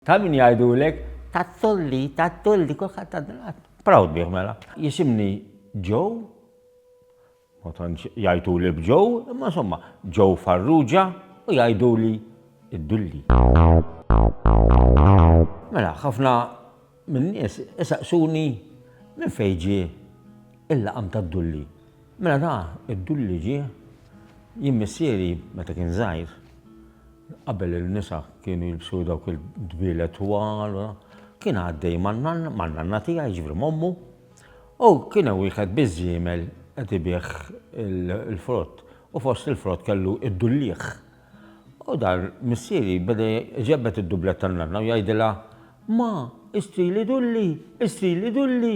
Ta' min jgħidulek? Ta' Tulli, ta' Tulli, kulħadd għad ngħad. Proud bih mela. Jisimni Joe, ma tantx jgħiduli b'Joe, imma insomma, Joe Farrugia u jgħiduli d-Dulli. Mela, ħafna min-nies isaqsuni minn fejn ġie l-laqam tad-Dulli. Mela da, id-Dulli ġie, jien missieri meta kien żgħir, Qabel in-nisa kienu jilbsu dawk il-dbielet twal, kien għaddej man-nanna tiegħi, jiġifieri m'ommu, u kien hemm wieħed biż-żiemel qed ibigħ il-frott u fost il-frott kellu d-dulliegħ. U dan missieri beda jġebbed id-dublet tan-nanna u jgħidilha, Ma, ishtri li dulli, ishtri li dulli!